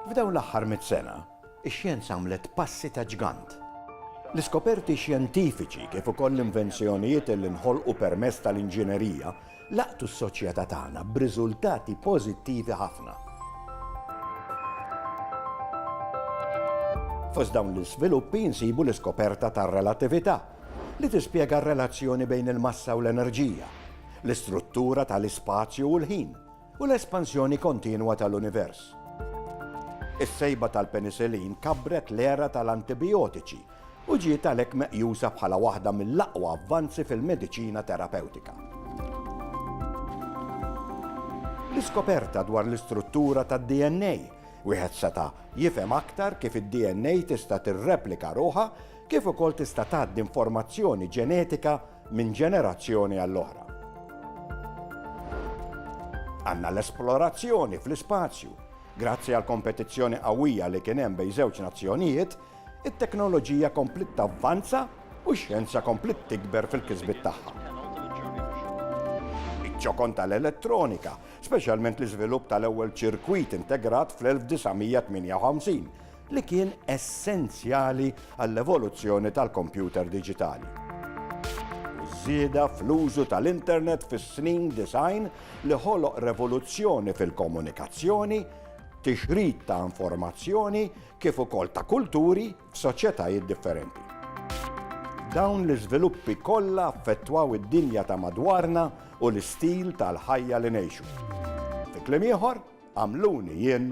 F'dawn l-aħħar mitt sena, ix-xjenza għamlet passi ta' ġgant. L-iskoperti xjentifiċi kif ukoll l-invenzjonijiet li nħolqu permezz tal-inġinerija laqtu s-soċjetà tagħna b'riżultati pożittivi ħafna. Fost dawn l-iżviluppi nsibu l-iskoperta tar-relatività, li tispjega r-relazzjoni bejn il-massa u l-enerġija, l-istruttura ta' l-ispazju u l-ħin, u l-espansjoni kontinwa ta' l-univers. Is-sejba tal-penisilin kabbret l-era ta' l-antibijotiċi u ġiet għalhekk meqjusa bħala waħda mill-aqwa avvanzi fil-mediċina terapewtika. L-iskoperta dwar l-istruttura tad-DNA, wieħed seta' jifhem aktar kif id-DNA tista' tirreplika ruħha kif ukoll tista' tgħaddi informazzjoni ġenetika minn ġenerazzjoni għall-oħra. Għandna l-esplorazzjoni fl-ispazju. Grazzi għall-kompetizzjoni qawwija li kien hemm bejn żewġ nazzjonijiet, it-teknoloġija kompliet tavvanza u x-xjenza kompliet tikber fil-kisbiet tagħha. Iċ-ċokon tal-elettronika, speċjalment l-iżvilupp tal-ewwel ċirkwit integrat fl-1958, li kien essenzjali għall-evoluzzjoni tal-kompjuter diġitali żieda fl-użu tal-internet fis-snin design li ħoloq revoluzzjoni fil-komunikazzjoni, tixrid ta' informazzjoni kif ukoll ta' kulturi f'soċjetajiet differenti. Dawn l-iżviluppi kollha affettwaw id-dinja ta' madwarna u l-istil tal-ħajja li ngħixu. Fi kliem ieħor, għamluni jien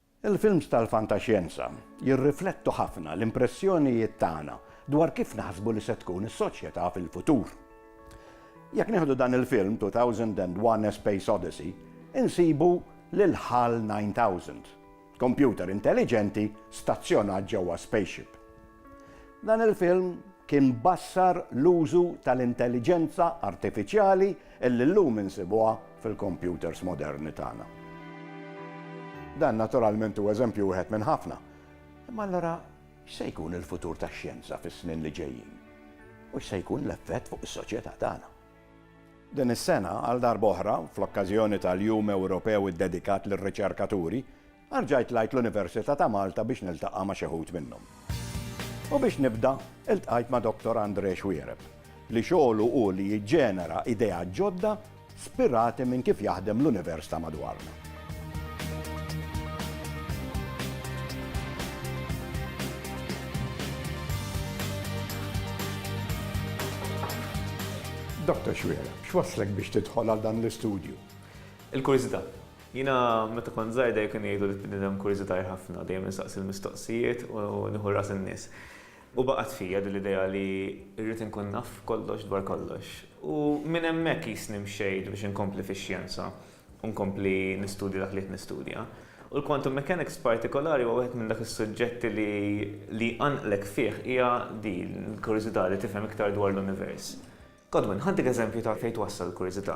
Il-films tal-fantaxjenza jirriflettu ħafna l-impressjonijiet tagħna dwar kif naħsbu li se tkun is-soċjetà fil-futur. Jekk nieħdu dan il-film 2001 A Space Odyssey, insibu lil hal 9000, kompjuter intelliġenti stazzjonat ġewwa spaceship. Dan il-film kien bassar l-użu tal-intelliġenza artifiċjali li llum insibuha fil-kompjuters moderni tagħna. Dan naturalment hu eżempju wieħed minn ħafna. Imma allura x'se jkun il-futur tax-xjenza fis-snin li ġejjin? U x'se jkun l-effett fuq is-soċjetà tagħna? Din is-sena, għal darb'oħra, fl-okkażjoni tal-Jum Ewropew iddedikat lir-Riċerkaturi, Arġajt tlajt l-Universita ta' Malta biex niltaqa' ma' xi wħud minnhom. U biex nibda, iltqajt ma' Doctor Andre Xuereb, li xogħlu hu li jiġġenera ideat ġodda spirati minn kif jaħdem l-univers ta' madwarna. Doctor Xuereb, x'wasslek biex tidħol għal dan l-istudju? Il-kurjżità. Jiena meta kont żgħir dejjem kienu jgħidu li bniedem kurjużitajr ħafna, dejjem insaqsi l-mistoqsijiet u nieħu ras in-nies. U baqgħet fija din l-idea li rrid inkun naf kollox dwar kollox. U minn hemmhekk qisni mxejt biex inkompli fix-xjenza u nkompli nistudja dak li qed nistudja. U l-quantum mechanics b'partikolari huwa wieħed minn dak is-suġġetti li li jqanqlek fih hija din il-kurjużità li tifhem iktar dwar l-univers. Godwin, ħaddik eżempju ta' fejn twassal il-kurjużità.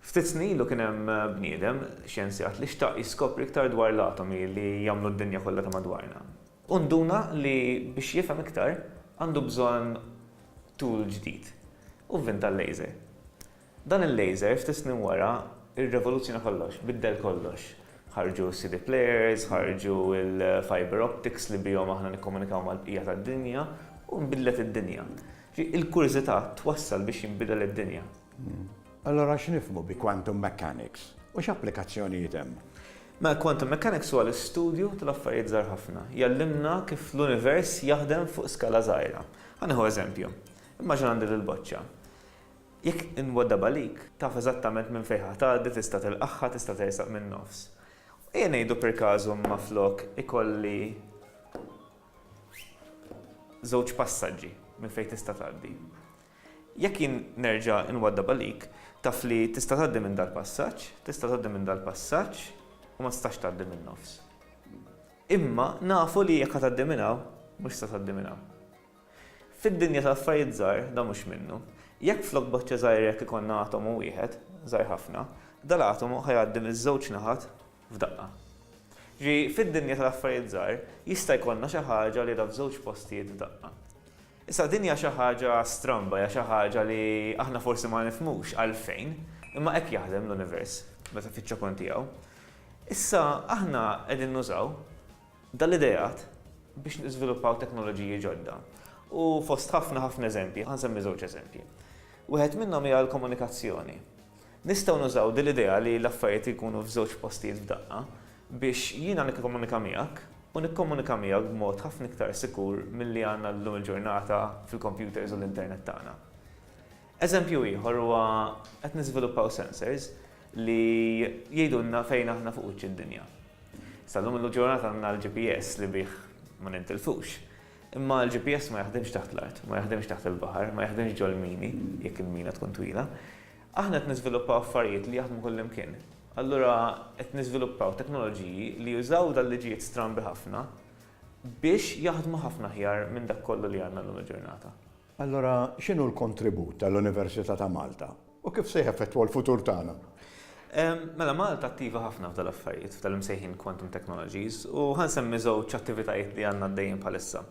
Ftit snin ilu kien hemm bniedem, xjenzjat, li xtaq jiskopri iktar dwar l-atomi li jagħmlu d-dinja kollha ta' madwarna. Hu nduna li biex jifhem iktar għandu bżonn tool ġdid u vvinta l-laser. Dan il-laser ftit snin wara rrevoluzzjona kollox, biddel kollox. Ħarġu s-CD players, ħarġu l-fiber optics li bihom aħna nikkomunikaw mal-bqija tad-dinja u nbidlet id-dinja. Il-kurżità twassal biex jinbidel id-dinja. Allura x'nifhmu bi quantum mechanics u x'applikazzjonijiet hemm? Mela quantum mechanics huwa l-istudju tal-affarijiet żgħar ħafna. Jgħallimna kif l-univers jaħdem fuq skala żgħira. Ħa nieħu eżempju. Immaġina għandi lil boċċa. Jekk inwaddabha għalik, taf eżattament minn fejn ħa tgħaddi, tista' tilqagħha, tista' tersaq min-nofs. Ejja ngħidu per każu imma flok ikolli żewġ passaġġi minn fejn tista' tgħaddi. Jekk jien nerġa' nwaddab għalik, taf li tista' tgħaddi minn dal-passaġġ, tista' tgħaddi minn dal-passaġġ u ma tistax tgħaddi min-nofs. Imma nafu li jekk ħa tgħaddi minn hawn, mhux se tgħaddi minn hawn. Fid-dinja ta' affarijiet żgħar dan mhux minnu. Jekk flok boċċa żgħira hekk ikollna atomu wieħed, żgħir ħafna, dal-atomu ħa jgħaddi miż-żewġ naħat f'daqqa. Ġifieri fid-dinja tal-affarijiet żgħar jista' jkollna xi ħaġa li ra f'żewġ postijiet f'daqqa. Issa din hija xi ħaġa stramba, hija xi ħaġa li aħna forsi ma nifhmux għalfejn, imma hekk jaħdem l-univers meta fiċ-ċokon tiegħu. Issa aħna qegħdin nużaw dan l-ideat biex niżviluppaw teknoloġiji ġodda u fost ħafna ħafna eżempji, ħa nsemmi żewġ eżempji. Wieħed minnhom hija l-komunikazzjoni. Nistgħu nużaw din l-idea li l-affarijiet jkunu f'żewġ postijiet f'daqqa biex jiena nikkomunika miegħek u nikkomunika miegħek b'mod ħafna iktar sikur milli għandna llum il-ġurnata fil-kompjuters u l-internet tagħna. Eżempju ieħor huwa qed niżviluppaw sensors li jgħidulna fejn aħna fuq wiċċ id-dinja. Sa llum il-ġurnata għandna l-GPS li bih ma nintilfux. Imma l-GPS ma jaħdimx taħt l-art, ma jaħdimx taħt il-baħar, ma jaħdimx ġol-mini, jekk il-mina tkun twila. Aħna qed niżviluppaw affarijiet li jaħdmu kullimkien. Allura qed niżviluppaw teknoloġiji li jużaw dan liġijiet strambi ħafna biex jaħdmu ħafna aħjar minn dak kollu li għandna llum il-ġurnata. Allura x'inhu l-kontribut tal-Università ta' Malta u kif se jeffettwa l-futur tagħna? Mela Malta attiva ħafna f'dan l-affarijiet, f'dan l-imsejħin quantum technologies, u ħa nsemmi żewġ attivitajiet li għandna għaddejjin bħalissa.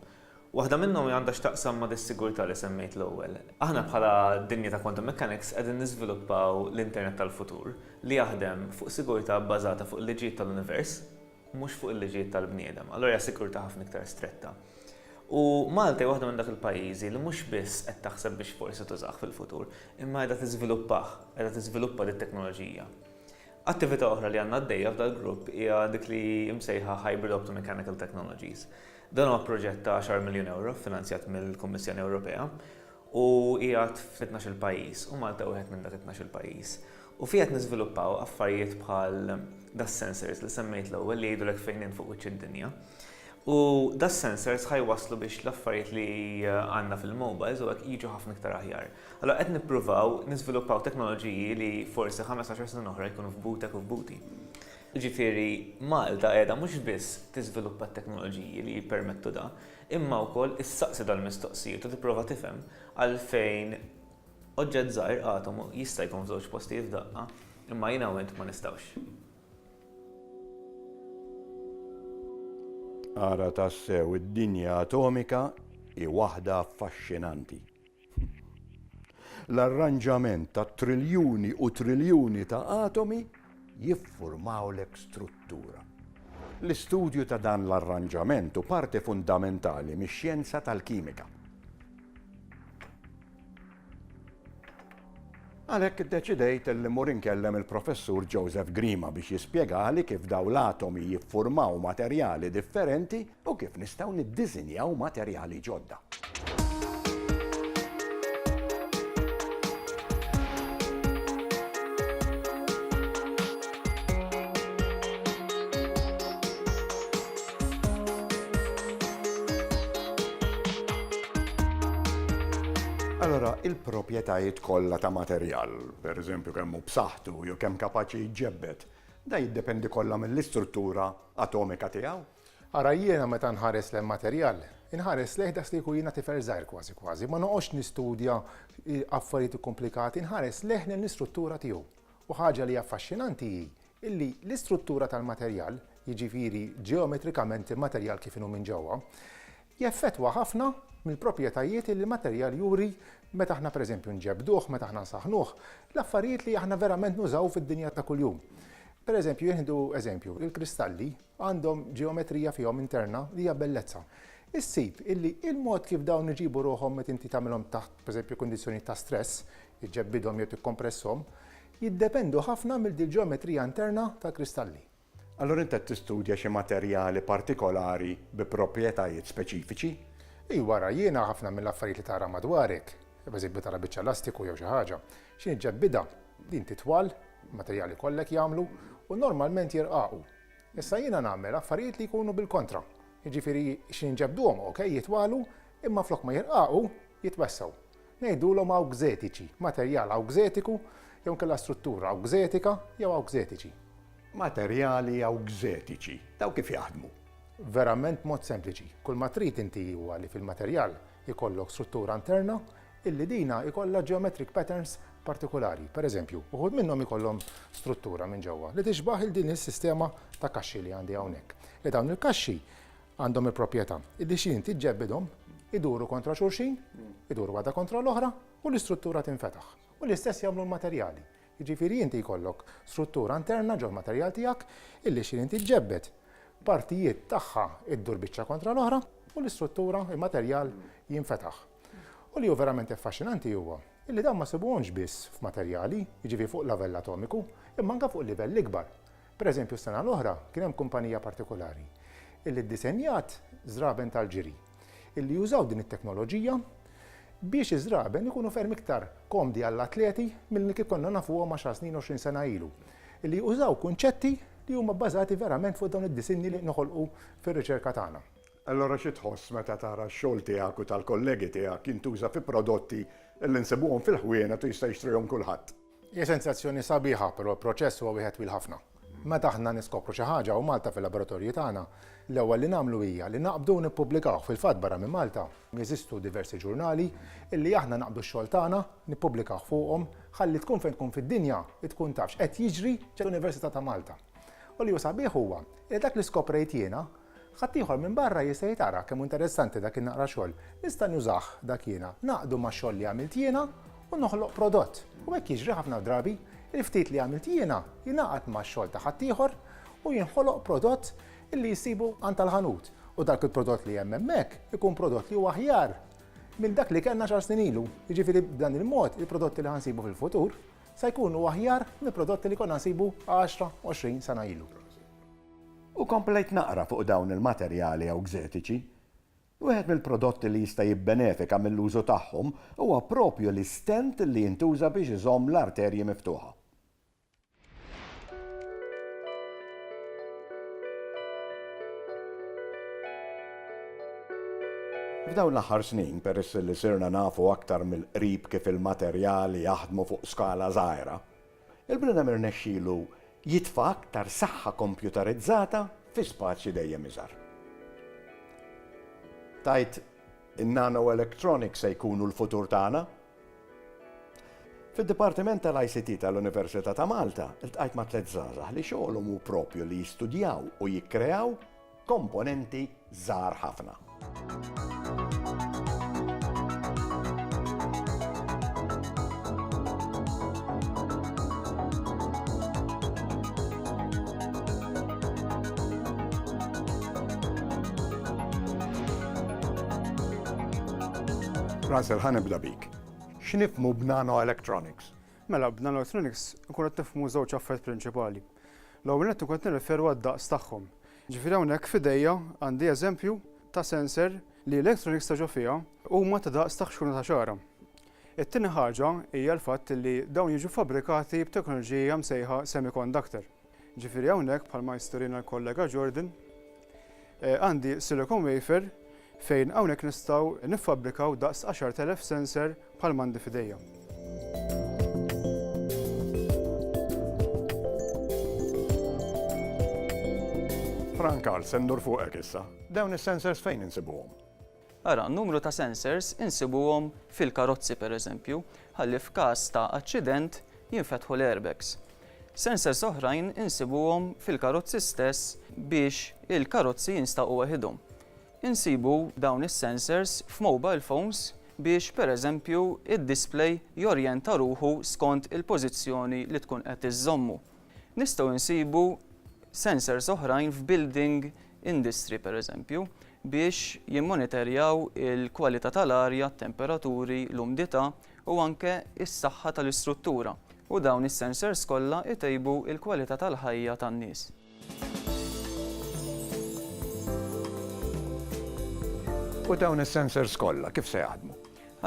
Waħda minnhom għandha x'taqsam ma' dis-sigurtà li semmejt l-ewwel. Aħna bħala dinja ta' quantum mechanics qegħdin niżviluppaw l-internet tal-futur li jaħdem fuq sigurtà bbażata fuq il-liġijiet tal-univers, mhux fuq il-liġijiet tal-bniedem, allura hija sikurtà ħafna iktar stretta. U Malta hija waħda minn dak il-pajjiżi li mhux biss qed taħseb biex forsi tużah fil-futur, imma qiegħda tiżviluppah, qiegħda tiżviluppa dit-teknoloġija. Attività oħra li għandna għaddejja f'dal-grupp hija dik li msejħa Hybrid Optomechanical Technologies. Dan huwa proġett ta' għaxar miljun ewro ffinanzjat mill-Kummissjoni Ewropea u qiegħed fit-tnax-il pajjiż, u Malta wieħed minn dak it-tnax-il pajjiż, u fih qed niżviluppaw affarijiet bħal das-sensors li semmejt l-ewwel li jgħidulek fejn int fuq wiċċ id-dinja. U das-sensors ħa jwasslu biex l-affarijiet li għandna fil-mobiles u hekk jiġu ħafna iktar aħjar. Allura qed nippruvaw niżviluppaw teknoloġiji li forsi ħames għaxar snin oħra jkunu f'butek u f'buti. Jiġifieri Malta qiegħda mhux biss tiżviluppa t-teknoloġiji li jippermettu dan, imma wkoll issaqsi dal-mistoqsijiet u tipprova tifhem għalfejn oġġett żgħir, atomu, jista' jkun f'żewġ postijiet f'daqqa, imma jiena u int ma nistgħux. Ara tassew id-dinja atomika hi waħda affaxxinanti. L-arranġament ta' triljuni u triljuni ta' atomi jiffurmawlek struttura. L-istudju ta' dan l-arranġament hu parti fundamentali mix-xjenza tal-kimika. Għalhekk iddeċidejt li mmur inkellem il-Professur Joseph Grima biex jispjegali kif dawn l-atomi jiffurmaw materjali differenti u kif nistgħu niddisinjaw materjali ġodda. Allura, il-proprjetajiet kollha ta' materjal, pereżempju kemm hu b'saħħtu jew kemm kapaċi jġebbed, dan jiddependi kollha mill-istruttura atomika tiegħu. Ara jiena meta nħares lejn materjal, inħares lejh daqs li jkun jiena tifel żgħir kważi kważi, ma noqgħodx nistudja affarijiet ikkumplikati, inħares lejh lejn l-istruttura tiegħu. U ħaġa li hi affaxxinanti hi illi l-istruttura tal-materjal, jiġifieri ġeometrikament il-materjal kif inhu minn ġewwa, jeffettwa ħafna mill-proprjetajiet illi l-materjal juri meta aħna pereżempju nġebbduh, meta aħna nsaħħnuh, l-affarijiet li aħna verament nużaw fid-dinja ta' kuljum. Pereżempju, jien nieħdu eżempju, il-kristalli, Għandhom ġeometrija fihom interna li hija bellezza. Issib illi il-mod kif dawn iġibu ruħhom meta inti tagħmilhom taħt, pereżempju, kundizzjonijiet ta' stress, iġġebbidhom jew tikkompresshom, jiddependu ħafna mill-ġeometrija interna tal-kristalli. Allura int qed tistudja xi materjali partikolari bi proprjetajiet speċifiċi? Iva, ara, jiena ħafna mill-affarijiet li tara madwarek, pereżempju tara biċċa lastiku jew xi ħaġa, xi niġġebbidha, din titwal, materjali kollha hekk jagħmlu, u normalment jirqaqu. Issa jiena nagħmel affarijiet li jkunu bil-kontra, jiġifieri xi nġebbduhom, okej, jitwagħlu, imma flok ma jirqaqu, jitwessgħu. Ngħidulhom awgżetiċi, materjal awgżetiku jew inkella struttura awgżetika jew awgżetiċi. Materjali awgżetiċi, dawn kif jaħdmu? Verament mod sempliċi. Kull ma trid inti huwa li fil-materjal ikollok struttura interna illi dina jkollha geometric patterns partikulari, per eżempju, uħud minnhom jkollhom struttura minn ġewwa li tixbah il din is-sistema ta' kaxxi li għandi hawnhekk, li dawn il-kaxxi għandhom il-proprjetà illi xi inti ġġebbidhom iduru kontra xulxin, iduru waħda kontra l-oħra u l-istruttura tinfetaħ. U l-istess jagħmlu l-materjali. Jiġifieri inti jkollok struttura interna ġol-materjal tiegħek illi xi inti ġġebbed partijiet tagħha ddur biċċa kontra l-oħra u l-istruttura, il-materjal jinfetaħ. U li hu verament affaxxinanti huwa li dawn ma sibuhomx biss f'materjali, jiġifieri fuq l-avell atomiku, imma anke fuq livell ikbar. Per eżempju s-sena l-oħra kien hemm kumpanija partikolari li ddisenjat żraben tal-ġiri li jużaw din it-teknoloġija biex iż-żraben ikunu ferm iktar komdi għall-atleti milli kif konna nafuhom għaxar snin, għoxrin sena ilu, li użaw kunċetti li huma bbażati verament fuq dawn id-disinni li noħolqu fir-riċerka tagħna. Allura xi tħoss meta tara x-xogħol tiegħek u tal-kollegi tiegħek jintuża fi prodotti li nsibuhom fil-ħwienet u jista' jixtrihom kulħadd? Hija sensazzjoni sabiħa, però l-proċess huwa wieħed twil ħafna. Meta aħna niskopru xi ħaġa hawn Malta fil-laboratorji tagħna, l-ewwel li nagħmlu hija li naqbdu u nippubblikawh. Fil-fatt barra minn Malta, jeżistu diversi ġurnali li aħna naqbdu x-xogħol tagħna, nippubblikawh fuqhom, ħalli tkun fejn tkun fid-dinja, tkun taf x'qed jiġri fl-Università ta' Malta. U li hu sabiħ huwa li dak li skoprejt jiena, Ħaddieħor minbarra jista' jgħid ara kemm hu interessanti dak in-naqra xogħol, nista' nużah dak jiena, ngħaqqdu max-xogħol li għamilt jiena u noħloq prodott. U hekk jiġri ħafna drabi, il-ftit li għamilt jiena jingħaqad max-xogħol ta' ħaddieħor u jinħoloq prodott illi jsibu għand tal-ħanut u dak il-prodott li hemm hemmhekk ikun prodott li hu aħjar minn dak li kellna xahar snin ilu. Jiġifieri b'dan il-mod il-prodotti li ħa nsibu fil-futur se jkunu aħjar mill-prodotti li konna nsibu għaxra, għoxrin sena ilu. U komplejt naqra fuq dawn il-materjali ewxetiċi. Wieħed mill-prodotti li jista' jibbenefika mill-użu tagħhom huwa proprju l-istent li jintuża biex iżomm l-arterji miftuħa. F'dawn l-aħħar snin, peress li sirna nafu aktar mill-qrib kif il-materjali jaħdmu fuq skala żgħira, Il-bniedem irnexxielu jitfa' aktar saħħa kompjutarizzata fi spazju dejjem iżgħar. Tgħid, In-nanoelectronics se jkunu l-futur tagħna? Fid-Dipartiment tal-ICT tal-Università ta' Malta ltqajt ma' tliet żgħażagħ li xogħolhom hu proprju li jistudjaw u jikkreaw komponenti żgħar ħafna. Russell, ħa nibda bik. X'nifhmu b'nanoelectronics? Mela, b'nanoelectronics nkunu qed nifhmu żewġ affarijiet prinċipali. L-ewwel nett nkun qed nirreferu għad-daqs tagħhom. Ġifieri hawnhekk f'idejja għandi eżempju ta' sensor li l-electronics ta' ġo fiha huma ta' daqs ta' ħxuna ta' xagħra. It-tieni ħaġa hija l-fatt li dawn jiġu fabbrikati b'teknoloġija msejħa semiconductor. Ġifieri hawnhekk bħalma jisturina l-kollega Jordan għandi silicon wafer Fejn hawnhekk nistgħu niffabbrikaw daqs għaxart elef sensor bħalma għandi f'idejja. Fran Karl, se ndur fuqek issa. Dawn is-sensors fejn insibuhom? Ara, numru ta' sensors insibuhom fil-karozzi pereżempju, ħalli f'każ ta' aċċident jinfetħu l-airbags. Sensors oħrajn insibuhom fil-karozzi stess biex il-karozzi jinstaqu waħidhom. Insibu dawn is-sensors f'mobile phones biex pereżempju d-display jorjenta ruħu skont il-pożizzjoni li tkun qed iżżommu. Nistgħu nsibu sensors oħrajn f'building industry pereżempju biex jimmonitorjaw il-kwalità tal-arja, t-temperaturi, l-umdità u anke s-saħħa tal-istruttura u dawn is-sensors kollha jtejbu l-kwalità tal-ħajja tan-nies. U dawn is-sensors kollha kif se jaħdmu?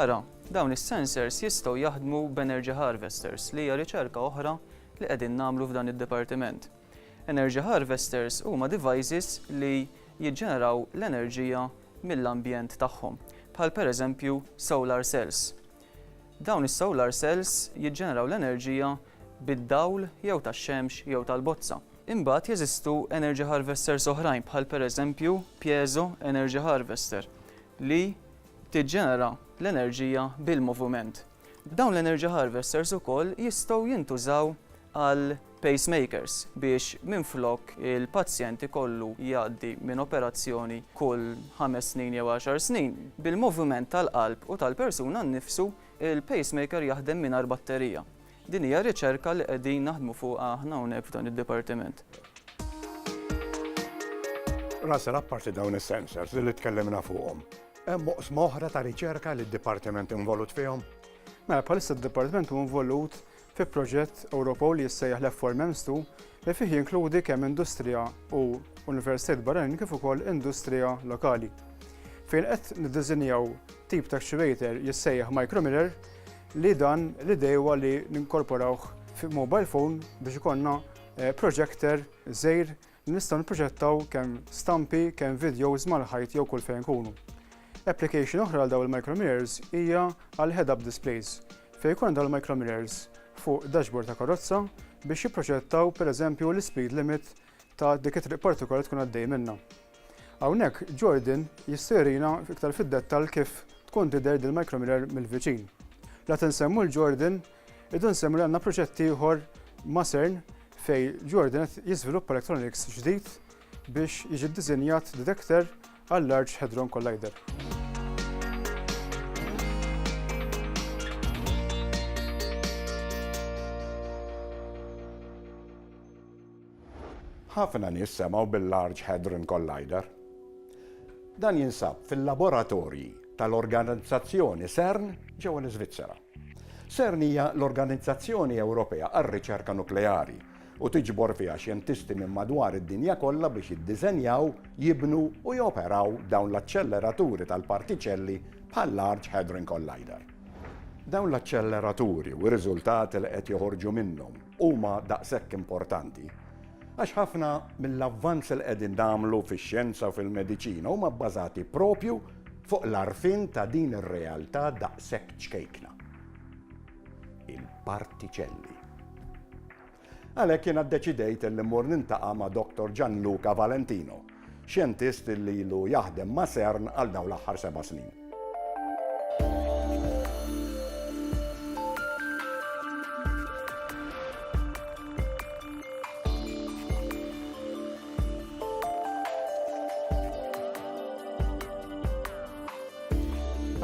Ara, dawn is-sensors jistgħu jaħdmu b'energy harvesters li hija riċerka oħra li qegħdin nagħmlu f'dan id-dipartiment. Energy harvesters huma devices li jiġġeneraw l-enerġija mill-ambjent tagħhom, bħal pereżempju solar cells. Dawn is-solar cells jiġġeneraw l-enerġija bid-dawl jew tax-xemx jew tal-bozza. Imbagħad jeżistu energy harvesters oħrajn bħal pereżempju piezo energy harvester li tiġġenera l-enerġija bil-moviment. Dawn l-energy harvesters ukoll jistgħu jintużaw għal pacemakers, biex minflok il-pazjent ikollu jgħaddi minn operazzjoni kull ħames snin jew għaxar snin, bil-moviment tal-qalb u tal-persuna nnifsu, il-pacemaker jaħdem mingħajr batterija. Din hija riċerka li qegħdin naħdmu fuqha aħna hawnhekk f'dan id-dipartiment. Russell, apparti dawn is-sensors li tkellimna fuqhom, hemm oqsma oħra ta' riċerka li d-dipartiment involut fihom? Mela, bħalissa d-dipartiment hu involut fi proġett Ewropew li jissejjaħ l-FORMEMS2 li fih jinkludi kemm industrija u universitajiet barranin kif ukoll industrija lokali. Fejn qed niddiżinjaw tip ta' actuator jissejjaħ micromirror li dan l-idejwa li ninkorporawh fi mobile phone biex ikonna eh, projector żejr Nistgħu nipproġettaw kemm stampi, kemm vidjows mal-ħajt jew kull fejn nkunu. Application oħra għal dawn il-micromirrors hija għal head-up displays, fejn ikun dawn il-micromirrors fuq dashboard ta' karozza biex jipproġettaw pereżempju l-ispeed limit ta' dik it-triq partikolari tkun għaddej minnha. Hawnhekk Jordan jista' jurina iktar fid-dettall kif tkun tidher dil-micromirror mill-viċin. La tinsemmu l-Jordan Idu nsemmu li għandna proġett ieħor ma' CERN fej Jordan qed jiżviluppa electronics ġdid biex jiġi ddiżinjat detector għall-Large Hadron Collider. ħafna nies semgħu bil-Large Hadron Collider. Dan jinsab fil-laboratorji tal-organizzazzjoni CERN ġewwa l-Iżvizzera. CERN hija l-organizzazzjoni Ewropea għar-riċerka nukleari u tiġbor fiha xjentisti minn madwar id-dinja kollha biex jiddiżenjaw, jibnu u joperaw dawn l-aċċelleraturi tal-partiċelli bħal-Large Hadron Collider. Dawn l-aċċelleraturi u r-riżultati li qed joħorġu minnhom huma daqshekk importanti għax ħafna mill-avvanzi li qegħdin nagħmlu fix-xjenza u fil-mediċina huma bbażati proprju Fuq l-għarfien ta' din ir-realtà daqshekk ċkejkna. Il-partiċelli. Għalhekk jiena ddeċidejt illi mmur nintaqa' ma' Doctor Gianluca Valentino, xjentist illi ilu jaħdem ma' CERN għal dawn l-aħħar seba' snin.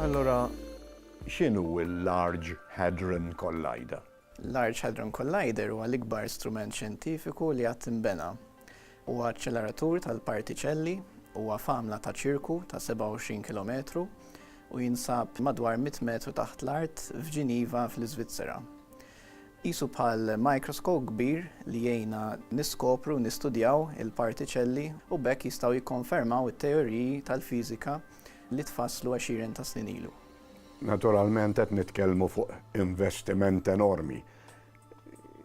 Allora, x'inhu l-Large Hadron Collider? L-Large Hadron Collider huwa l-ikbar strument xjentifiku li qatt inbena. Huwa aċċeleratur tal-partiċelli, huwa f'għamla ta' ċirku ta' 27 kilometru u jinsab madwar 100 metru taħt l-art f'Ġiniva fl-Iżvizzera. Qisu bħal mikroskop kbir li jgħinna niskopru u nistudjaw il-partiċelli u b'hekk jistgħu jikkonfermaw it-teoriji tal-fiżika li tfasslu għexieren ta' snin ilu. Naturalment qed nitkellmu fuq investiment enormi.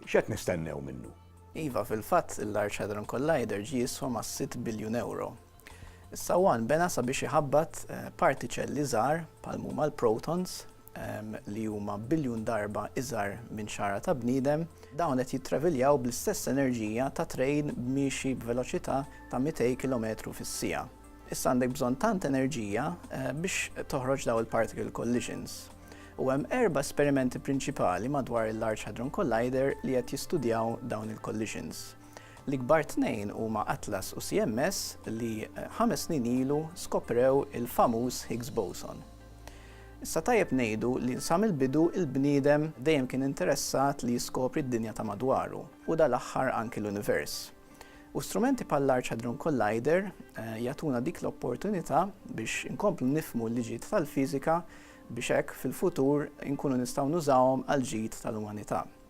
X'qed nistennew minnu? Iva, fil-fatt, il-Large Hadron Collider ġie jiswa mas-sitt biljun ewro. Is-sawwan bena sabiex iħabbat partiċelli żgħar bħal m'huma l-protons li huma biljun darba iżgħar minn xagħra ta' bniedem. Dawn qed jittraviljaw bl-istess enerġija ta' trejn miexi b'veloċità ta' 200 kilometru fis-siegħa. Issa għandek bżonn tant enerġija biex toħroġ dawn il-particle collisions. U hemm erba' esperimenti prinċipali madwar il-Large Hadron Collider li qed jistudjaw dawn il-collisions. L-ikbar tnejn huma Atlas u CMS li ħames snin ilu skoprew il-famuż Higgs Boson. Issa tajjeb ngħidu li sa mill-bidu il-bniedem dejjem kien interessat li jiskopri d-dinja ta' madwaru u dal-aħħar anki l-univers. U strumenti bħall-Large Hadron Collider jagħtuna dik l-opportunità biex inkomplu nifhmu l-liġijiet tal-fiżika biex hekk fil-futur inkunu nistgħu nużawhom għall-ġid tal-umanità.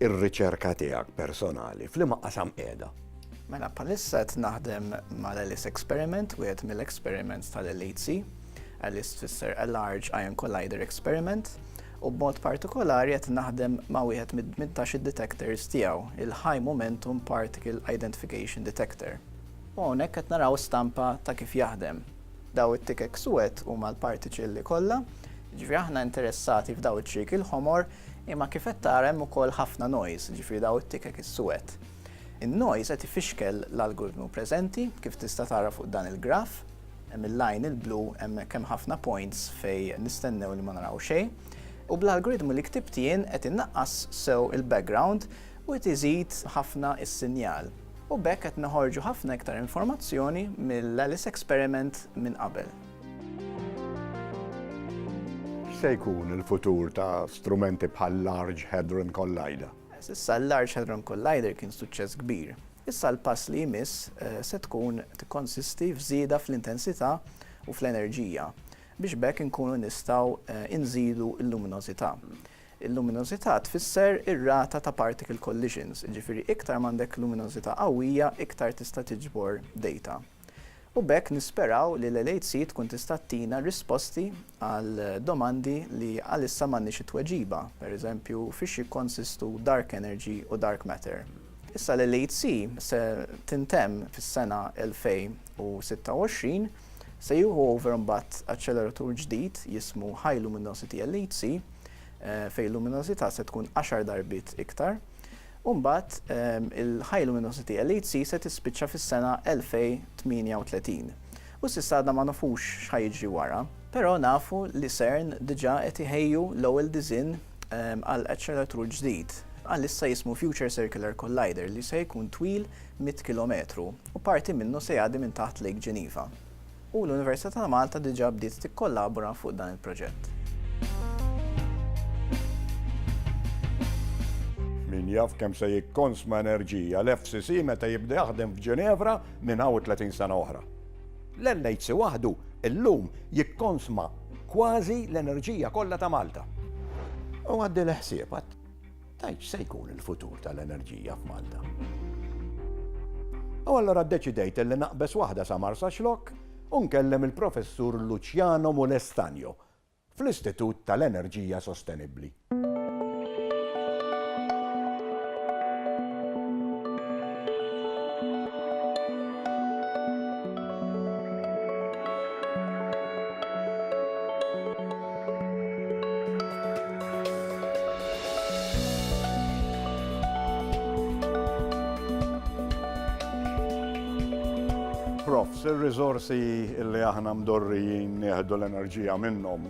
ir-riċerka tiegħek personali, f'liema qasam qiegħda? Mela, bħalissa qed naħdem mal-Alice Experiment, wieħed mill-experiments tal-LHC. Alice tfisser a Large Ion Collider Experiment, u b'mod partikolari qed naħdem ma' wieħed mid-18 detectors tiegħu, il-High Momentum Particle Identification Detector. U hawnhekk qed naraw stampa ta' kif jaħdem. Daw it-tikek suwed huma l-partiċilli kollha, jiġifieri aħna interessati f'daw iċ-ċrieki l-ħomor, imma kif qed tara hemm ukoll ħafna noise, jiġifieri daw it-tikek is-suwed. In-noise qed ifixkel l-algoritmu preżenti, kif tista' tara fuq dan il-graph. Hemm il-line il-blu hemmhekk hemm ħafna points fejn nistennew li ma naraw xejn. U bl-algoritmu li ktibt jien qed innaqqas sew il-background u qed iżid ħafna is-sinjal. U b'hekk qed noħorġu ħafna iktar informazzjoni mill-Alice Experiment minn qabel. X'se jkun il-futur ta' strumenti bħal-Large Hadron Collider? S'issa l-Large Hadron Collider kien suċċess kbir. Issa l-pass li jmiss se tkun tikkonsisti f'żieda fl-intensità u fl-enerġija biex b'hekk inkunu nistgħu nżidu l-luminożità. Il-luminożità tfisser ir-rata ta' particle collisions, jiġifieri iktar ma għandek luminożità qawwija iktar tista' tiġbor data. U b'hekk nisperaw li l-LHC tkun tista' tina risposti għal domandi li għalissa m'għandniex it-tweġiba, per eżempju fiex jikkonsistu dark energy u dark matter. Issa l-LHC se tintemm fis-sena 2026, se jieħu over mbagħad aċċeleratur ġdid jismu High Luminosity LHC, fejn il-luminożità se tkun għaxar darbiet iktar, u mbagħad il-High Luminosity LHC se tispiċċa fis-sena 2038. U s'issa għadna ma nafux x'ħa jiġri wara. Però nafu li CERN diġà qed iħejju l-ewwel diżinn għal aċċeleratur ġdid, għalissa jismu Future Circular Collider, li se jkun twil mitt kilometru, u parti minnu se jgħaddi minn taħt Lake Geneva. u l-Università ta' Malta diġà bdiet tikkollabora fuq dan il-proġett. Min jaf kemm se jikkonsma enerġija l-FCC meta jibda jaħdem f'Ġinevra minn hawn u 30 sena oħra? L-NHC waħdu llum jikkonsma kważi l-enerġija kollha ta' Malta. U għaddi l-ħsieb. Tgħid x'se jkun il-futur tal-enerġija f'Malta. U allura ddeċidejt li naqbeż waħda sa Marsaxlokk u nkellem il-Professur Luciano Mulestagno fl-Istitut tal-Enerġija Sostenibbli. Profs, ir-riżorsi li aħna mdorrijin nieħdu l-enerġija minnhom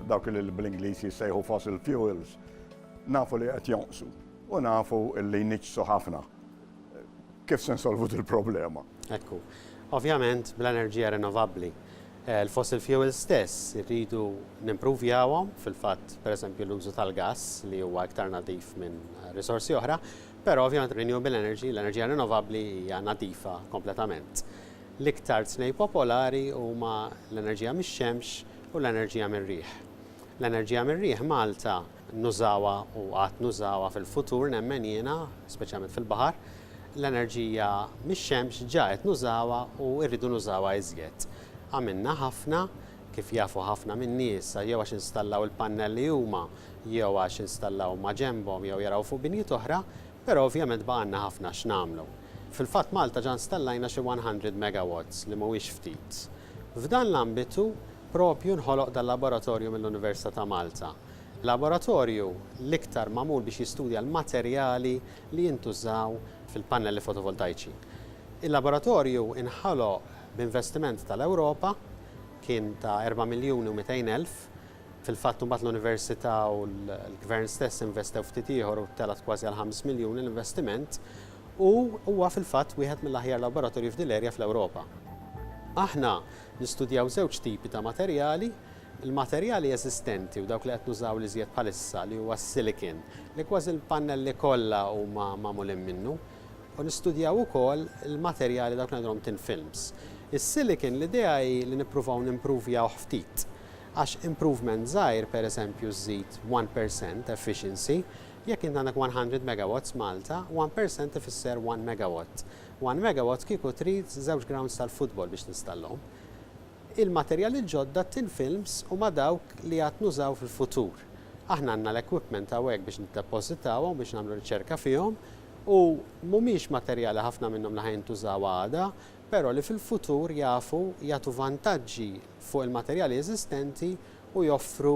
dawk li bl-Ingliż jissejħu fossil fuels, nafu li qed jonqsu u nafu li jniġġsu ħafna. Kif se nsolvu il-problema? Ekku. Ovvjament bl-enerġija rinnovabbli. Il-fossil fuels stess irridu nimpruvjawhom, fil-fatt pereżempju l-użu tal-gass li huwa iktar nadif minn risorsi oħra, però ovvjament renewable energy, l-enerġija rinnovabbli hija nadifa kompletament. L-iktar tnej popolari huma l-enerġija mix-xemx u l-enerġija mir-riħ. L-enerġija mir-riħ Malta nużawha u għad nużawha fil-futur nemmen jiena, speċjalment fil-baħar, l-enerġija mix-xemx ġa qed nużawha u rridu nużawha iżjed. Għamilna ħafna, kif jafu ħafna min-nies, jew għax installaw il-pannelli huma jew għax installaw ma' ġenbhom jew jaraw fuq binjiet oħra, però ovvjament baqgħalna ħafna x'nagħmlu. Fil-fatt Malta ġa installajna xi 100 megawatts li mhuwiex ftit. F'dan l-ambitu proprju nħoloq dal-laboratorju mill-Università ta' Malta. Laboratorju l-iktar magħmul biex jistudja l-materjali li jintużaw fil-pannelli fotovoltajċi. Il-laboratorju nħoloq b'investiment tal-Ewropa, kien ta' erba' miljuni u mitejn elf. Fil-fatt imbagħad l-Università u l-Gvern stess investew ftit ieħor u telgħet kważi għal ħames miljuni l-investiment u huwa fil-fatt wieħed mill-aħjar laboratorji f'din l-erja fl-Ewropa. Aħna nistudjaw żewġ tipi ta' materjali, Il-materjali eżistenti u dawk li qed nużaw l-iżjed bħalissa li huwa s-silicon, li kważi l-pannelli kollha huma magħmulin minnu, u nistudjaw ukoll il-materjali dawk li ngħidulhom thin films. Is-silicon l-idea hi li nippruvaw nimpruvjawh ftit, għax improvement żgħir, pereżempju żżid one percent efficiency, jekk int għandek one hundred megawatts f'Malta, one percent ifisser one megawatt. One megawatt kieku trid żewġ grounds tal-futbol biex tinstallhom. il-materjali l-ġodda, t-tin films u ma' dawk li għad nużaw fil-futur. Aħna għandna l-equipment hawnhekk biex niddepożitawhom u biex nagħmlu riċerka fihom u mhumiex materjali ħafna minnhom li ħa jintużaw għada, però li fil-futur jafu jagħtu vantaġġi fuq il-materjali eżistenti u joffru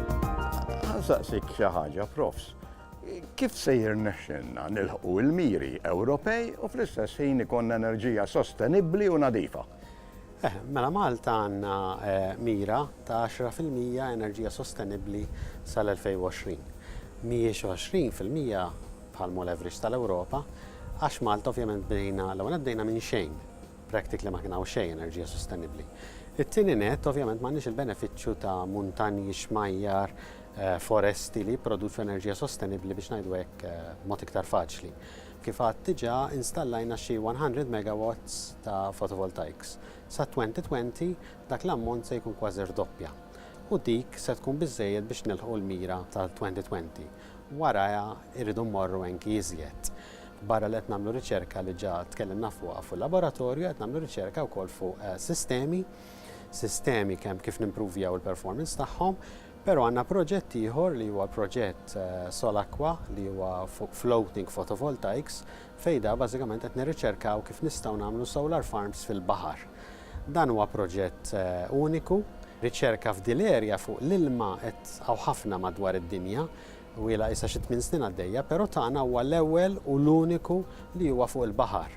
Nsaqsik xi ħaġa, Profs. Kif se jirnexxilna nilħqu l-miri Ewropej u fl-istess ħin ikollna enerġija sostenibbli u nadifa? Eh, mela Malta għandna eh, mira ta' 10% enerġija sostenibbli sal-2020. Mhijiex 20% bħal mol average tal-Ewropa, għax Malta ovvjament bdejna l-ewwel bdejna minn xejn practically ma kien hawn xejn enerġija sostenibbli. It-tieni nett, ovvjament m'għandniex il-benefiċċju ta' muntanji, xmajjar, foresti li jipproduċu enerġija sostenibbli biex ngħidu hekk b'mod iktar faċli. Kif għadt diġà installajna xi 100 megawatts ta' photovoltaics. Sat-2020 dak l-ammont se jkun kważi rdoppja u dik se tkun biżżejjed biex nilħqu l-mira tal-2020. Warajha irridu mmorru anki iżjed. Barra li qed nagħmlu riċerka li ġa tkellimna fuqha fuq laboratorju, qed nagħmlu riċerka wkoll fuq sistemi, sistemi kemm kif nimpruvjaw il-performance tagħhom, però għandna proġett ieħor li huwa proġett Solacqua li huwa fuq floating photovoltaics fejn da bażikament qed nirriċerkaw kif nistgħu nagħmlu solar farms fil-baħar. Dan huwa proġett uniku, riċerka f'dil-area fuq l-ilma qed hawn ħafna madwar id-dinja, Twila issa xi tmien snin għaddejja, pero tagħna huwa l-ewwel u l-uniku li huwa fuq il-baħar,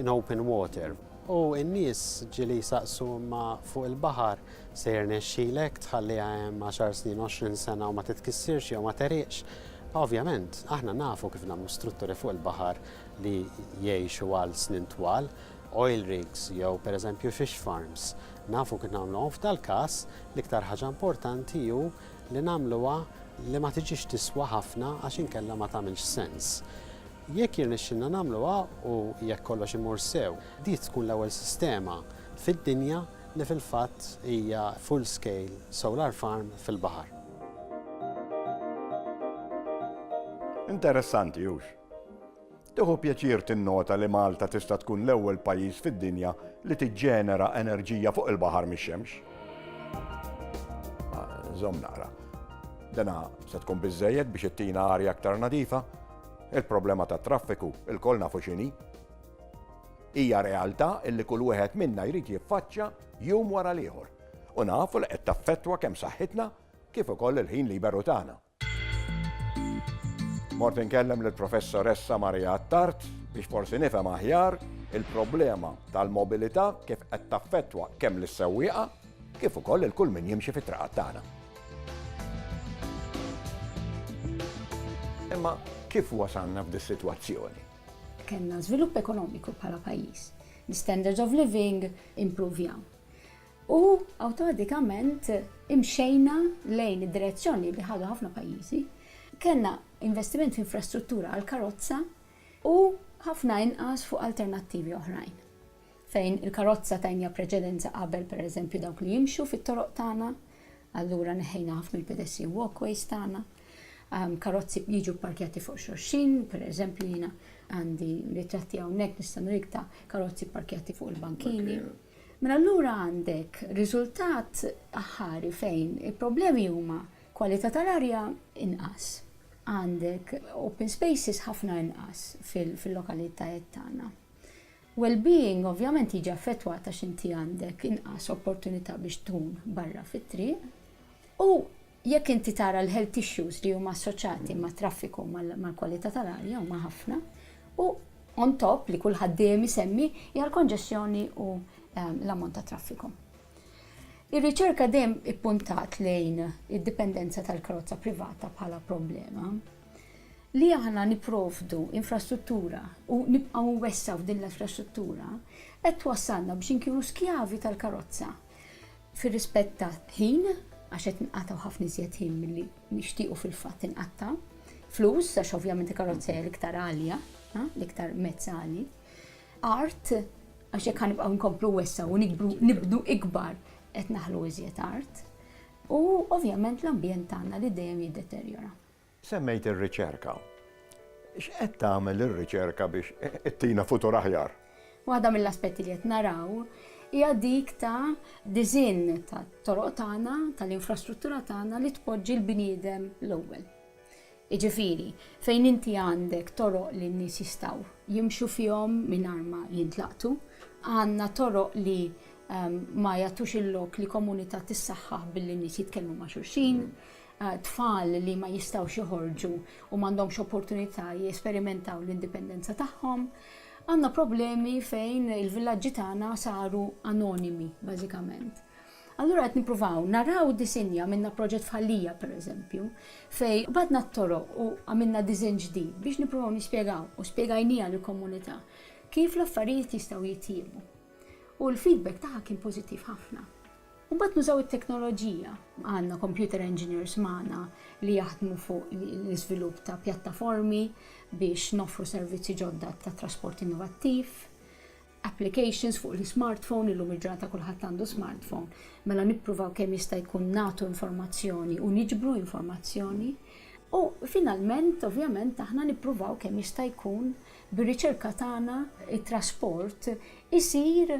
in open water. U n-nies ġieli jsaqsu imma fuq il-baħar se jirnexxilek tħalliha hemm għaxar snin, għoxrin sena u ma titkissirx jew ma tegħriqx? Ovvjament, aħna nafu kif nagħmlu strutturi fuq il-baħar li jgħixu għal snin twal, oil rigs jew per eżempju fish farms. Nafu kif nagħmluhom. F'dal-każ, l-iktar ħaġa importanti hu Li nagħmluha li ma tiġix tiswa ħafna għax inkella ma tagħmilx sens. Jekk jirnexxilna nagħmluha u jekk kollox imur sew, di tkun l-ewwel sistema fid-dinja li fil-fatt hija full scale solar farm fil-baħar. Interessanti, hux? Tieħu pjaċir tinnota li Malta tista' tkun l-ewwel pajjiż fid-dinja li tiġġenera enerġija fuq il-baħar mix-xemx. Żomm naqra. Dina se tkun biżżejjed biex ittina arja aktar nadifa? Il-problema tat-traffiku ilkoll nafu x'inhi. Hija realtà li kull wieħed minna jrid jiffaċċja jum wara l-ieħor u nafu li qed taffettwa kemm saħħitna kif ukoll il-ħin liberu tagħna. Mort inkellem lill-Professoressa Maria Attard biex forsi nifhem aħjar il-problema tal-mobilità kif qed taffettwa kemm lis-sewwieqa kif ukoll il kull min jimxi fit-traqat tagħna. Imma kif wasalna f'di sitwazzjoni? Kellna żvilupp ekonomiku bħala pajjiż. L-standards of living impruvjaw. U awtomatikament imxejna lejn id-direzzjoni li ħadu ħafna pajjiżi. Kellna investiment f'infrastruttura għall-karozza u ħafna inqas fuq alternattivi oħrajn, fejn il-karozza tajniha preċedenza qabel pereżempju dawk li jimxu fit-toroq tagħna, allura neħħejna ħafna l-pedestrian walkways tagħna, karozzi jiġu pparkjati fuq xulxin, pereżempju jiena għandi ritratti hawnhekk nista' nuriek ta' karozzi pparkjati fuq il-bankini. Minn allura għandek riżultat aħħari fejn il-problemi huma kwalità tal-arja inqas, għandek open spaces ħafna inqas fil-lokalitajiet tagħna. Well-being ovvjament jiġi affettwat għax inti għandek inqas opportunità biex tkun barra fit-triq u Jekk inti tara l-health issues li huma assoċjati mat-traffiku, mal-kwalità tal-arja huma ħafna u on top li kulħadd dejjem isemmi hija l-konġestjoni u l-ammont ta' traffiku. Ir-riċerka dejjem ippuntat lejn id-dipendenza tal-karozza privata bħala problema. Li aħna nipprovdu infrastruttura u nibqgħu nwessgħu f'din l-infrastruttura qed twassalna biex inkunu skjavi tal-karozza. fir-rispett ta' ħin, għax qed inqatgħu ħafna iżjed ħin milli nixtiequ fil-fatt inqatta', flus, għax ovvjament il-karozza hija l-iktar għalja, l-iktar mezz għali, art, għax jekk ħa nibqgħu nkomplu wessa' u nikbru nibnu ikbar qed naħlu iżjed art, u ovvjament l-ambjent tagħna li dejjem jiddeterjora. Semmejt ir-riċerka. X'qed tagħmel ir-riċerka biex ittina futur aħjar? Waħda mill-aspetti li qed naraw hija dik ta' disinn tat-toroq tagħna, tal-infrastruttura tagħna li tpoġġi l-bniedem l-ewwel. Jiġifieri, fejn inti għandek toroq li n-nies jistgħu jimxu fihom mingħajr ma jintlaqtu, għandna toroq li ma jagħtux il-lok li komunità tissaħħaħ billi n-nies jitkellmu ma' xulxin, tfal li ma jistgħux joħorġu u m'għandhomx opportunità jesperimentaw l-indipendenza tagħhom. Għandna problemi fejn il-villaġġi tagħna saru anonimi, bażikament. Allura qed nippruvaw naraw disinja, għamilna proġett f'Ħal-Lija, pereżempju, fejn qbadna t-toroq u għamilna diżinn ġdid biex nippruvaw nispjegaw, u spjegajniha lill-komunità, kif l-affarijiet jistgħu jitjiebu. U l-feedback tagħha kien pożittiv ħafna. U mbagħad nużaw it-teknoloġija. Għandna computer engineers magħna li jaħdmu fuq l-iżvilupp ta' pjattaformi biex noffru servizzi ġodda ta' trasport innovattiv, applications fuq l-ismartphone, illum il-ġurnata kulħadd għandu smartphone, mela nippruvaw kemm jista' jkun nagħtu informazzjoni u niġbru informazzjoni. U finalment, ovvjament, aħna nippruvaw kemm jista' jkun bir-riċerka tagħna t-trasport isir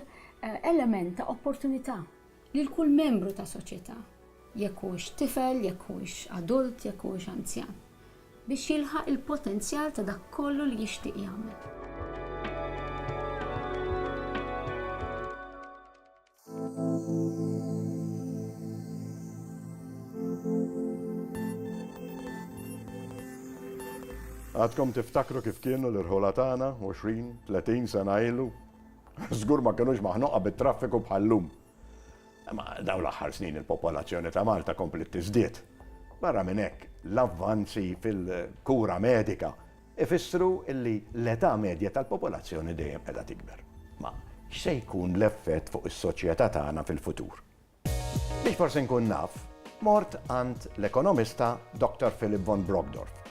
element ta' opportunità lil kull membru ta' soċjetà, jekk huwiex tifel, jekk huwiex adult, jekk huwiex anzjan, biex jilħaq il-potenzjal ta' dak kollu li jixtieq jagħmel. Għadkom tiftakru kif kienu l-irħula tagħna 20, 30 sena ilu? Żgur ma kinux maħnuqa bit-traffiku bħal llum. Imma dawn l-aħħar snin il-popolazzjoni ta' Malta kompliet tiżdied. Barra minn hekk, l-avvanzi fil-kura medika ifissru li l-età medja tal-popolazzjoni dejjem qiegħda tikber. Ma x'se jkun l-effett fuq is-soċjetà tagħna fil-futur? Biex forsi nkun naf, mort għand l-ekonomista Dr. Philip von Brockdorff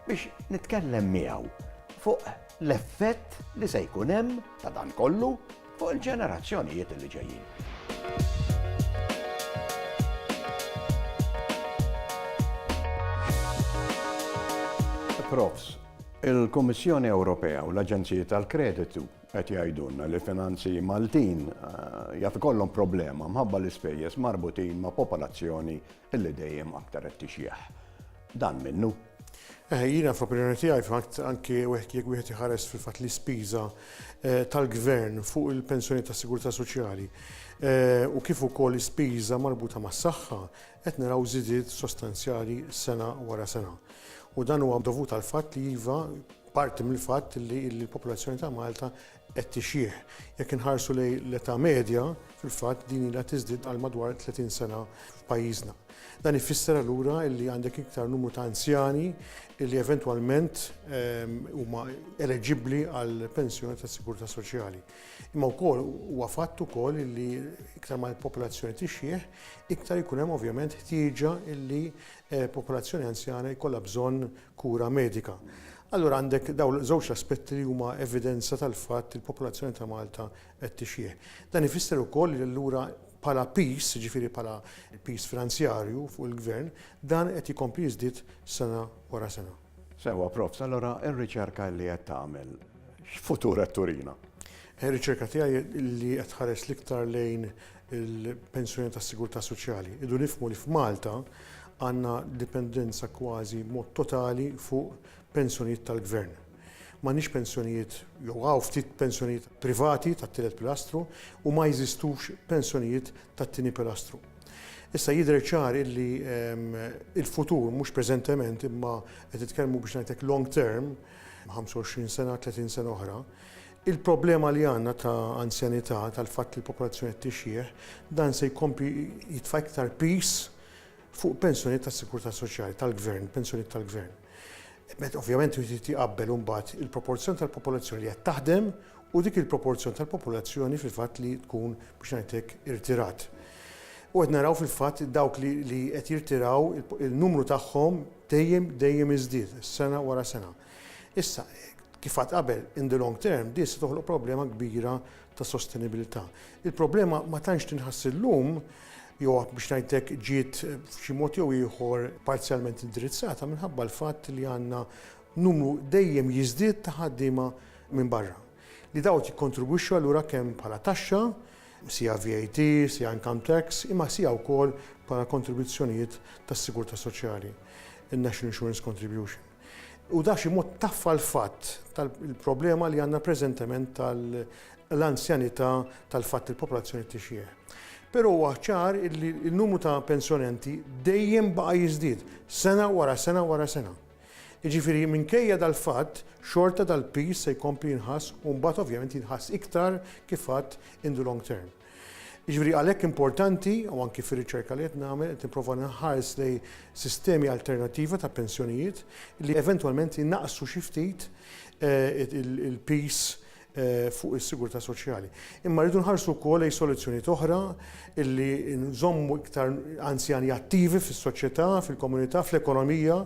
biex nitkellem miegħu fuq l-effett li se jkun hemm ta' dan kollu fuq il-ġenerazzjonijiet li ġejjin. Profs, il-Kummissjoni Ewropea u l-Aġenziji tal-Kreditu Qed jgħidulna li l-finanzi Maltin jaf ikollhom problema mħabba l-ispejjeż marbutin ma' popolazzjoni li dejjem aktar qed tixjeħ. Dan minnu? Eħe, jiena fl-opinjoni tiegħi fil-fatt anke jekk wieħed iħares fil-fatt l-ispiża tal-Gvern fuq il-pensjonijiet tas-Sigurtà Soċjali u kif ukoll l-ispiża marbuta mas-saħħa, Qed naraw żidiet sostanzjali sena wara sena u dan huwa dovut għall-fatt li iva, parti mill-fatt li l-popolazzjoni ta' Malta qed tixjieħ. Jekk inħarsu lejn l-età medja, fil-fatt din ilha tiżdied għal madwar 30 sena f'pajjiżna. Dan ifisser allura li għandek iktar numru ta' anzjani li eventwalment huma eleġibbli għall-pensjoni tas-sigurtà soċjali. Imma wkoll huwa fatt ukoll illi iktar ma l-popolazzjoni tixjieħ, iktar ikun hemm ovvjament ħtieġa illi popolazzjoni anzjana jkollha bżonn kura medika. Allura għandek dawn żewġ l-aspetti li huma evidenza tal-fatt li l-popolazzjoni ta' Malta qed tixjieħ. Dan ifisser ukoll li allura bħala piż, jiġifieri bħala piż finanzjarju fuq il-Gvern, dan qed jkompli jiżdied sena wara sena. Sewwa Profs, allura r-riċerka li qed tagħmel x'futur qed turina? Ir-riċerka tiegħi li qed tħares l-iktar lejn il-pensjoni tas-sigurtà soċjali. Irridu nifhmu li f'Malta għandna dipendenza kważi b'mod totali fuq pensjonijiet tal-Gvern. M'għandniex pensjonijiet jew hawn ftit pensjonijiet privati tat-tielet pilastru u ma jeżistux pensjonijiet tat-tieni pilastru. Issa jidher ċar illi il-futur, mhux preżentement, imma qed nitkellmu biex ngħidlek long term, 25 sena, 30 sena oħra, il-problema li għandna ta' anzjanità, tal-fatt li l-popolazzjoni qed tixjieħ, dan se jkompli jitfa' iktar piż fuq pensjonijiet tas-sigurtà soċjali tal-gvern, pensjonijiet tal-gvern. Meta ovvjament irid jqabbel imbagħad il-proporzjon tal-popolazzjoni li qed taħdem u dik il-proporzjon tal-popolazzjoni fil-fatt li tkun biex ngħid hekk irtirat. U qed naraw fil-fatt dawk li li qed jirtiraw il-numru tagħhom dejjem dejjem iżdied sena wara sena. Issa, kif għad qabel, in the long term, din se toħloq problema kbira ta' sostenibilità. Il-problema ma tantx tinħass illum, jew biex ngħid hekk ġiet f'xi mod jew ieħor parzjalment indirizzata minħabba l-fatt li għandna numru dejjem jiżdied ta' ħaddiema minn barra. Li dawn jikkontribwixxu allura kemm bħala taxxa, sija VAT, sija income tax, imma sija wkoll bħala kontribuzzjonijiet tas-sigurtà soċjali, in-National Insurance Contribution. U da b'xi mod taffa l-fatt tal-problema li għandna preżentement tal-anzjanità tal-fatt il-popolazzjoni tixjieħ. Però huwa ċar li n-numru ta' pensjonanti dejjem baqa' jiżdied sena wara sena wara sena. Jiġifieri minkejja dal-fatt xorta dal-piż se jkompli jinħass u mbagħad ovvjament jinħass iktar kif għadt in the long term. Jiġifieri għalhekk importanti, u anki fir-riċerka li qed nagħmel qed nipprova nħares lejn sistemi alternattiva ta' pensjonijiet li eventwalment inaqqsu xi ftit il-piż fuq is-sigurtà soċjali. Imma rridu nħarsu wkoll lejn soluzzjonijiet oħra li nżommu iktar anzjani attivi fis-soċjetà, fil-komunità, fl-ekonomija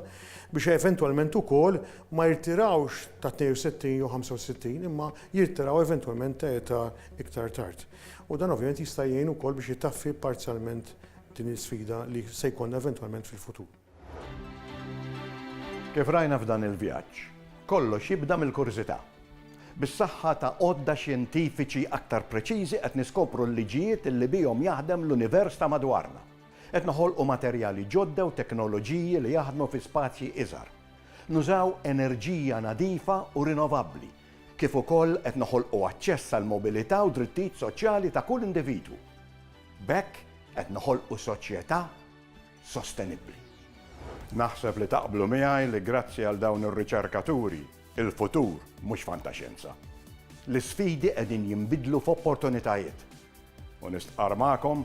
biex eventwalment ukoll ma jirtirawx ta' 62 jew 65 imma jirtiraw eventwalment ta' età iktar tard. U dan ovvjament jista' jgħin ukoll biex itaffi parzjalment din l-isfida li se jkollna eventwalment fil-futur. Kif rajna f'dan il-vjaġġ, kollox jibda mill-kurżità. Bis-saħħa ta' għodda xjentifiċi aktar preċiżi qed niskopru l-liġijiet li bihom jaħdem l-univers ta' madwarna. Qed noħolqu materjali ġodda u teknoloġiji li jaħdmu fi spazji iżgħar. Nużaw enerġija nadifa u rinovabbli kif ukoll qed noħolqu aċċess għall-mobilità u drittijiet soċjali ta' kull individwu. B'hekk qed noħolqu soċjetà sostenibbli. Naħseb li taqblu miegħi li grazzi għal dawn ir-riċerkaturi, il-futur mhux fantaxjenza. L-isfidi qegħdin jinbidlu f'opportunitajiet u nistqarr magħkom